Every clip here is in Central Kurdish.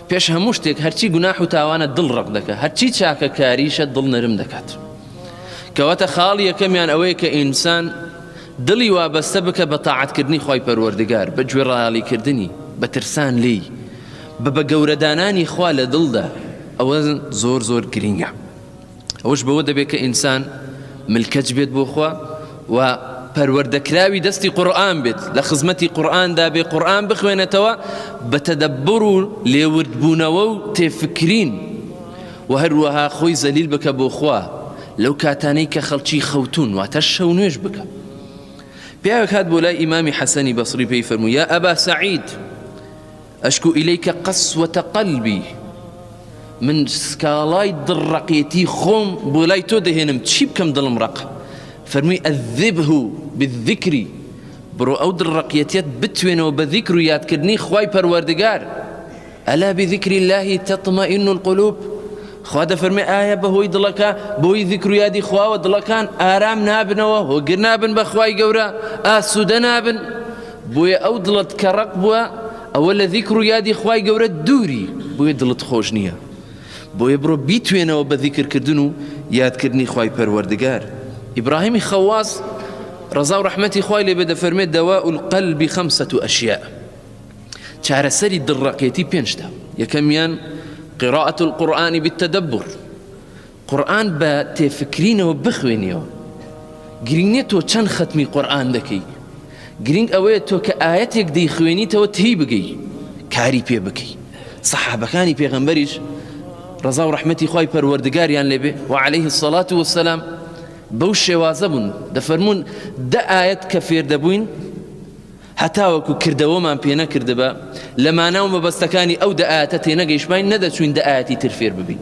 پێش هەموو شتێک هەرچی گوناح و تاوانە دڵ ڕق دەکە هەرچی چاکە کاریشە دڵ نەرم دەکات کەواتە خاڵی یەکەمیان ئەوەیە کە ئینسان دڵی وابەستە بکە بە تاعاتکردنی خی پەروەردگار بە گوێ ڕایالیکردنی بە ترسان لی بە بە گەورەدانانی خوا لە دڵدا ئەوە زۆر زۆر گرینگە ئەوەش بەوە دەبێت کە ئینسان ملکەچ بێت بۆ خوا و پەروەردەکراوی دەستی قورآن بێت لە خزمەتی قورآاندا بێ قورآن بخوێنێتەوە بە تەدەبڕ و لێوردبوونەوە و تێفکرین و هەروەها خۆی زەلیل بکە بۆ خوا لەو کاتانەی کە خەڵکی خەوتون واتە شەو نوێش بکە پیاوێک هات بۆ لای ئیمامی حەسەنی بەسری پێی فەرموو یا ئەبا سعید اشکو الیک قسوة قلبی، من سکاڵای دڵ ڕەقێتی خۆم بۆ لای تۆ دەهێنم چی بکەم دڵم ڕەقە فەرمووی اذبه بالذکر بڕۆ ئەو دڵ ڕەقیەتیەت بتوێنەوە بە ذیکر و یادکردنی خوای پەروەردگار الا بذکر الله تطمئن القلوب خوا دەفەرمێ ئایا بەهۆی دڵەکە بۆی ذیکر و یادی خواوە دڵەکان ئارام نابنەوە هۆگر نابن بەخوای گەورە ئاسوودە نابن بۆیە ئەو دڵەت کە ڕەق بووە ئەوە لە ذیکر و یادی خوای گەورە دووری بۆیە دڵت خۆش نییە بۆیە بڕۆ بیتوێنەوە بە ذیکر کردن و یاد کردنی خوای پەروەردگار ئیبراهیمی خەواس ڕەزا و ڕەحمەتی خوای لێ بێ دەفەرمێ دەوا القلبی خەمسە و ئەشیاء چارەسەری دڵڕەقێتی پێنجتە یەکەمیان قراءة القرآن بالتدبر قورئان بە تێفکرینەوە بخوێنیەوە گرینگ نیە تۆ چەند خەتمی قورئان دەکەی گرینگ ئەوەیە تۆ کە ئایەتێک دەیخوێنیتەوە تێیبگەی کاری پێ بکەی سەحابەکانی پێغەمبەریش ڕزا و ڕحمەتی خی پەروەردگاریان لێبێ و عليهەیه سەڵات وسلام بەو شێوازە بوون دەفەرمونون دە ئاەت کە فێر دەبووین هەتاوەکو کردەوەمان پێ نەکرد بە لە ماناو مەبەستەکانی ئەو دەئاتە تێنەگەیشتمان نەدەچوین دەئاتی تر فێر ببین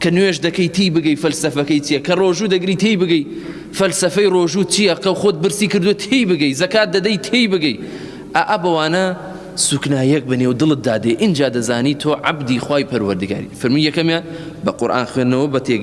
کە نوێژ دەکەی تی بگەی فەلسەفەکەی چییە کە ڕۆژوو دەگری تی بگەی فەلسەفەی ڕۆژوو چییە قە خۆت برسی کردو تی بگەی زەکات دەدەی تی بگەی ئا بەوانە سوکنایەک بە نێو دڵت دادێ ئینجا دەزانی تۆ عەبدی خوای پەروەردگاری فەرمی یەکەمیان بە قورآن خوێندنەوە بە تێگەی